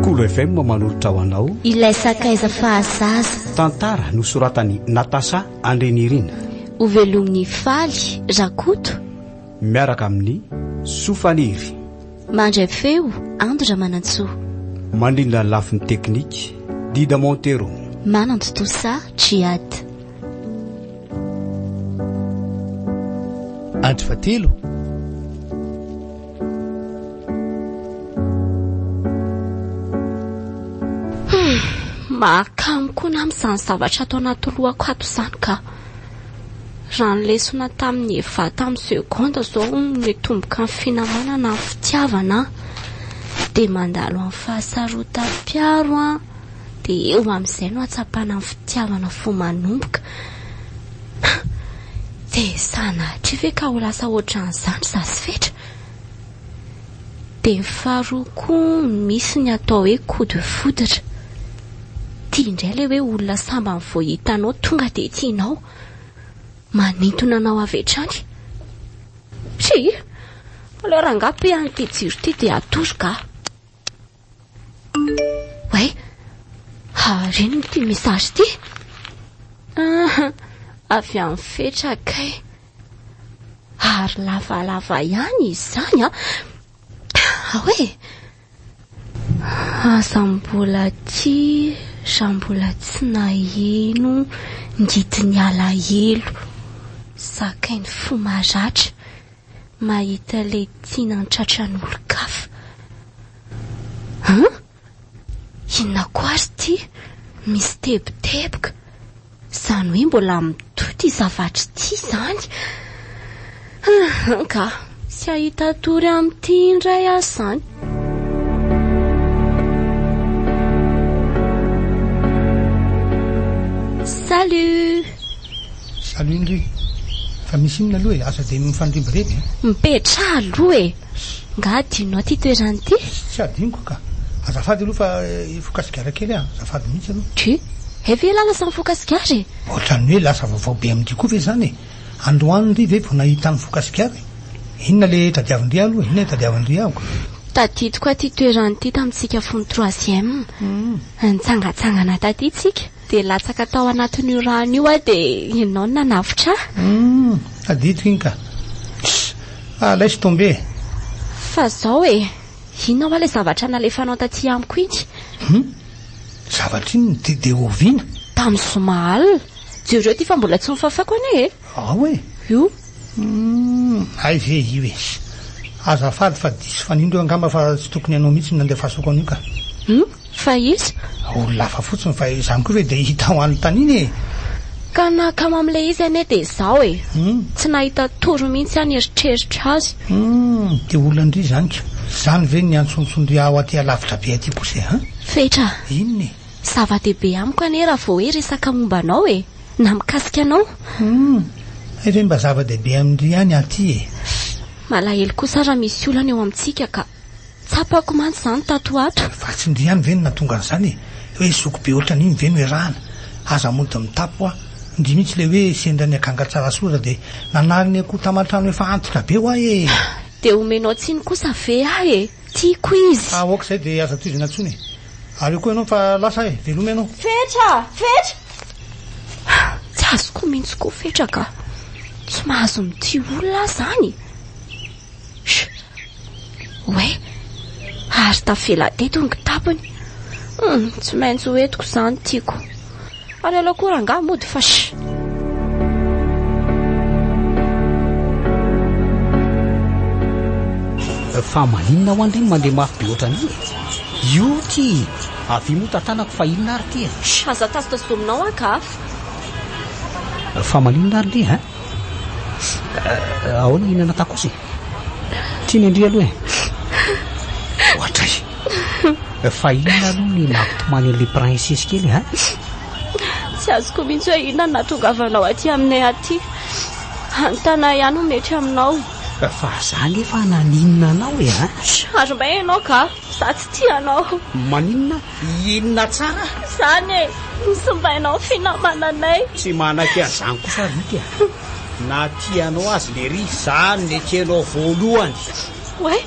Kolo FM manolotra ho anao ilay sakaiza fahazaza. Tantara nosoratan'i Natasha Andrinirina. Hovelomin'i Faly Rakoto. Miaraka amin'ny Soa Faniry. Mandray feo Ando Ramanantsoa. Mandrindra ny lafiny teknika Dida Montero. Manantontosa Triad. Andro fatelo Mahakamo koa na amin'izany zavatra ato anaty lohako ato izany ka. Raha ny lesona tamin'ny Eva tamin'ny seconde izao mitomboka amin'ny finamanana ny fitiavana dia mandalo amin'ny fahasarotam-piaro dia eo amin'izay no hatsapana ny fitiavana vao manomboka. Tsy sanatria ve ka ho lasa hoatran'izany za sy Fetra? Dia ny faharoa koa misy ny atao hoe coup de foudre. Tia indray ilay hoe olona sambany vao hitanao tonga dia tianao. Manintona anao avy hatrany. Tsia! Aleo rangahy mpihaino ity jiro ity dia atoroka aho. Way, harena ity message ity. Ah, avy amin'ny fetra kay. Ary lavalava ihany izany ah. Ahoe? Aza mbola tia raha mbola tsy naheno ny didin'ny alahelo. Zakain'ny fo maratra. mahita ilay tiana an-tratran'olon-kafa. An? Inona koa ary ity? Misy teboteboka. Izany hoe mbola mitohy ity zavatra ity izany. Anka, tsy hahita tory amin'ity indray aho izany. Salut Salut ndry! Fa misy inona aloha e? Aza dia mifanirimbireby e! Mipetraha aloha e! Nga adinonao ity toerana ity? Tsy adinoko ka! Azafady aloha fa hifoka sigara kely aho, azafady mihitsy aloha. Tchou! Hay ve ialahy lasa mifoka sigara e? Ohatran'ny hoe lasa vaovao be amin-dry koa ve izany e? Androany ndry ve vao nahita an'i mifoka sigara e? Inona ilay tadiavin-dry ahy aloha e? Inona tadiavin-dry ahy ko? Tadidiko aho ity toerana ity tamintsika fony troisième. Nitsangantsangana taty tsika. Dia latsaka tao anatin'io rano io aho dia ianao no nanavotra ahy. Hum, tadidiko iny ka. Pss, ah laisse tomber e. Fa zao e, inona hoa ilay zavatra nalefanao taty amiko iny? Hum, zavatra inona? Dia dia oviana? Tamin'ny zoma alina. Jereo ity fa mbola tsy nofafako anie e. Ao e! Io? Humm! Hay ve io e! Azafady fa diso fanindro io angamba fa tsy tokony anao mihitsy no nandefasako an'io ka! Humm! Fa iza? Olona hafa fotsiny fa izany koa ve dia hita ho an'i Tanin e! Ka nahakamo amin'ilay izy anie dia izaho e! Humm! Tsy nahita tory mihitsy aho nieritreritra azy! Humm! Dia olana-dry izany ka! Izany ve no niantsoantson-dry ahy ho aty alavitra be aty kosa e! Fetra! Inona e! Zava-dehibe amiko anie raha vao hoe resaka momba anao e! Na mikasika anao. Humm! Hay ve mba zava-dehibe amin-dry ihany aty e! Malahelo kosa raha misy olana eo amintsika ka. Tsapako mantsy izany tato ho ato. Vatsin-dry ihany ve no nahatonga an'izany e! Hoe zoky be ohatran'iny ve no iarahana? Aza mody mitapy hoa. Ndry mihitsy ilay hoe sendra ny akanga tsara soa dia nanary ny akoho taman-trano efa antitra be hoa e! Dia omenao tsiny kosa ve ahy e! Tiako izy! Aoka izay dia aza tohizana intsony e! Aleo koa ianao fa lasa e! Veloma ianao! Fetra! Fetra! Tsy azoko mihitsy koa Fetra ka! Tsy mahazo mitia olona aho izany e! Oe, ary tafela teto ny kitapony. Tsy maintsy ho entiko izany tiako. Ary aleo koa rangahy mody fash. Fa maninona hoan ry no mandeha mafy be ohatran'io e? Io ty avia moa tantanako fa inona ary ty e? Shh, aza tazotazota aminao aho ka afa. Fa maninona ary ndry hein? Ahoana inona natako kosa e? Tiany an-dry aloha e. Ohatray. Fa inona aloha ny nampitomany an'ilay princesse kely ha? Tsy azoko mihitsy hoe inona no nahatongavanao aty aminay aty. Hanontana ihany no mety aminao. Fa za nefa naninona anao e ha? Ary may ianao ka. Za tsy tia anao. Maninona? Inona tsara? Izany e. Ny simbainao ny finamananay. Tsy manaiky an'izany kosa Rick a. Na tianao azy lery za no nekenao voalohany. Oay!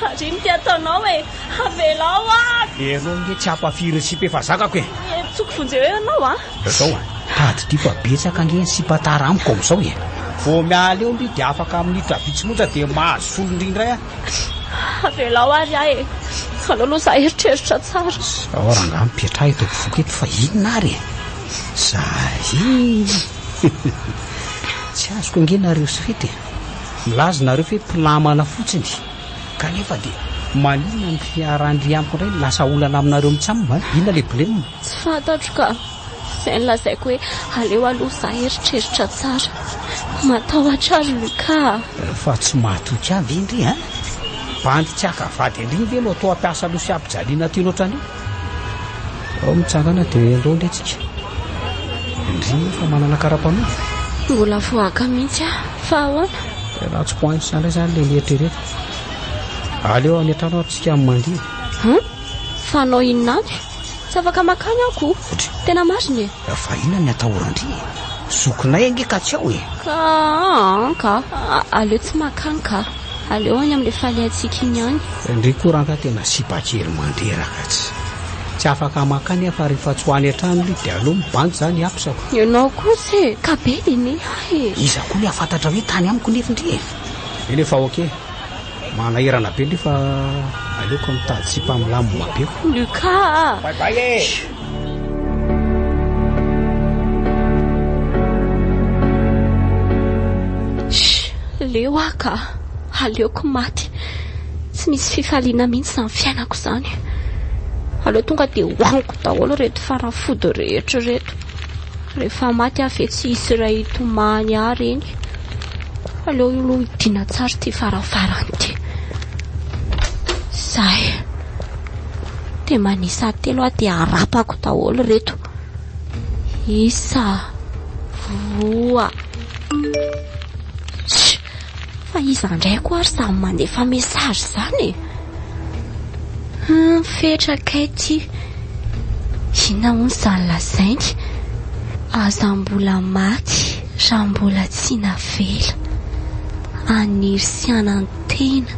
Ary ino ty ataonao e? Avelao aho! Ianao nge tsy hampafiry ny sipa efa zakako e! Hentsoiko vonjeo eo ianao a! Zao a! Tady ty fa betsaka nge ny sipa tara amiko amizao e! Vao miala eo ndry dia afaka minitra vitsy monja dia mahazo solony ndry indray aho! Avelao ary aho e! Aleo aloha za hieritreritra tsara! Zao rangahy mipetraha eto ampovoako eto fa inona ary e! Zary! Tsy azoko ange nareo sy fety e! Milaza nareo fe mpinamana fotsiny kanefa dia maninona ny fiaharan-dry amiko indray no lasa olana aminareo mitsam a! Inona le blem? Tsy fantatro ka! Izay nolazaiko hoe aleo aloha za hieritreritra tsara. Matahotra ary Lucas a! Fa tsy mahatoky ahy ve indry a! Bandy tsy haka vady an-dreny ve no atao hampiasa loha sy hampijaliana aty loatra an'io? Ao ny tsangana dia eo indray tsika. Indrina fa manana karapanondro. Mbola voaka mihitsy ah, fa ahoana? Tena tsy poinsa indray izany ilay mieritrereta. Aleo any an-trano ary tsika mandihy. Hum? Fanao inona any? Tsy afaka makany aho ko. Tena marina e. Fa inona ny atahoran-dry e? Zokinay ange ka tsy ao e! Ka an ka! Aleo tsy makany ka! Aleo any amin'ilay faliantsika iny ihany! Ndry koa ranga tena sipa kely mandreraka tsy. Tsy afaka makany aho fa rehefa tsy ho any an-trano ry dia aleo mibandy izany apisako. Ianao kosa e! Ka be dia ne ahy e! Iza koa ny hahafantatra hoe tany amiko nefy ndry e! Eny efa ok! Manahirana be ndry fa aleoko mitady sipa milamina be koa! Luca a! Bye bye e! Leo aho ka! Aleoko maty! Tsy misy fifaliana mihitsy izany fiainako izany. Aleo tonga dia hohaniko daholo ireto fanafody rehetra ireto. Rehefa maty aho ve tsy hisy iray hitomany ahy ireny. Aleo aloha hidiana tsara ity farafaran'ity. Izay. Dia manisa telo aho dia arapako daholo ireto. Isa, roa. Shh! Fa iza indray koa ary izany mandefa message izany e? Hmm, fetra kay ity. Inona hono izany lazainy? Aza mbola maty raha mbola tsy navela. Anirisiana Tena,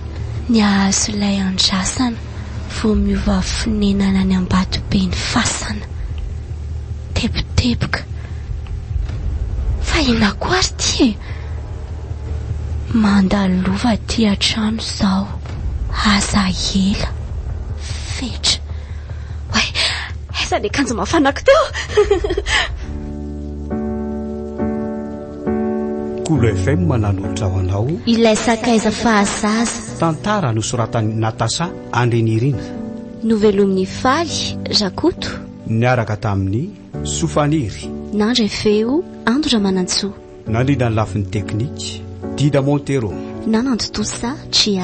ny hahazo ilay andrasana vao miova fonenana any Ambatobe ny fasana. Teboteboka. Fa inona koa ary ity e? Manda lova aty an-trano izao, aza ela. Fetra. Oay, aiza ny akanjo mafanako teo? Kolo FM nanolotra ho anao Ilay sakaiza fahazaza. Tantara nosoratan'i Natasha Andrinirina. Novelomin'i Faly Rakoto. Niaraka tamin'i Soa Faniry. Nandray feo Ando Ramanantsoa. Nandrindra ny lafiny teknika Dida Montero. Nanantontosa Tria.